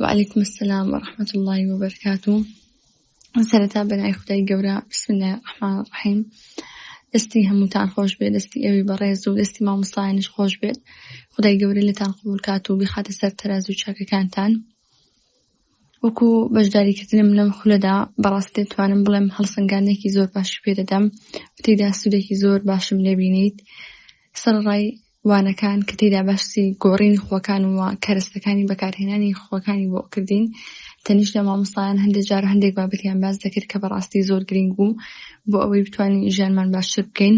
وعلیکم السلام ورحمة الله وبركاته سەرەتا بەنای خدای گەورە بسم الله الرحمن الرحیم دەستی هەمووتان خۆش بێت دەستی ئەوی بەڕێز و دەستی مامۆستایانش خۆش بێت خدای گەورە لەتان قبول کات و بخاتە سەر تەراز و چاکەکانتان وەکو بەشداریکردنم لەم خولەدا بەڕاست دەتوانم بڵێم هەڵسەنگانێکی زۆر باشی پێدەدەم تێدا سوودێکی زۆر باشم لێبینیت سەرڕای وانەکان کە تێیدا باسی گۆڕینی خووەکان و کەرەستەکانی بەکارهێنانی خووەکانی بۆ کردین تەنیشت لە مامۆستایان هەندێک جار هەندێک بابەتیان باس دەکرد کە بەڕاستی زۆر گرنگ بوو بۆ ئەوەی بتوانین ژیانمان باشتر بکەین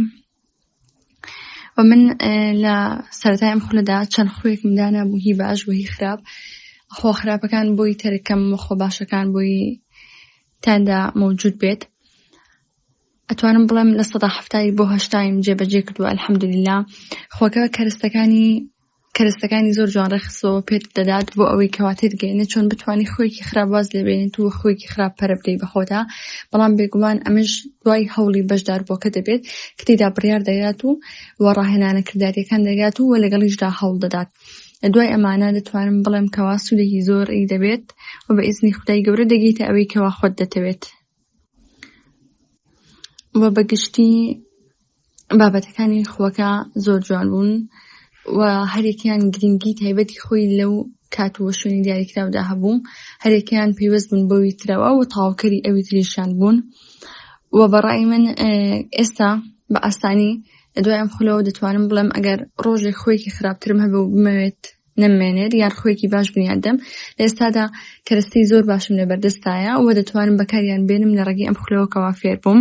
و من لە سەرای ئەم خولەدا چەند خوێکم دانا بوو هی باش بۆ هی خراپ خۆ خراپەکان بۆی تەرکەم خۆ باشەکان بۆی تاندا مەوجود بێت ئەتوانم بڵێم لە سەدا هەفتایی بۆ هەشتایم جێبەجێ کردووە الحەمدللا خۆکە کەرستەکانی کەرستەکانی زۆر جوان ڕێخسەوە پێت دەدات بۆ ئەوەی کەوا تێتگەێنە چۆن بتانی خۆیکی خراپ واز لێبێنیت و خۆیکی خراپ پەرە بدەی بەخۆدا بەڵام بێگومان ئەمەش دوای هەوڵی بەشدار بۆکە دەبێت کتێدا بڕیار دەگات و و ڕاهێنانە کرداریەکان دەگات و وە لەگەڵیشدا هەوڵ دەدات. دوای ئەمانە دەتوانم بڵێم کەوا سوودێکی زۆر ئی دەبێت و بە ئیزنی خدای گەورە دەگەیتە ئەوەی کەوا خۆت دەتەوێت وە بە گشتی بابەتەکانی خوەکە زۆر جوان بوون و هەریەکەیان گرنگی تایبەتی خۆی لەو کات و شوێنی دیاریکراودا هەبوو هەریەکەیان پەیوەست بوون بەوی ترەوە و تەواوکەری ئەوی تریشیان بوون و بەڕای من ئێستا بە ئاسانی دوای ئەم خولەوە دەتوانم بڵێم ئەگەر ڕۆژێک خوێکی خراپترم هەبێ و بمەوێت نەممێنێت یان ڕخۆیەکی باش بنیاد دەم لە ئێستادا کەرەستەی زۆر باشم لەبەردەستایە و دەتوانم بەکاریان بێنم لە ڕێگەی ئەم خولەوە کەوا فێر بووم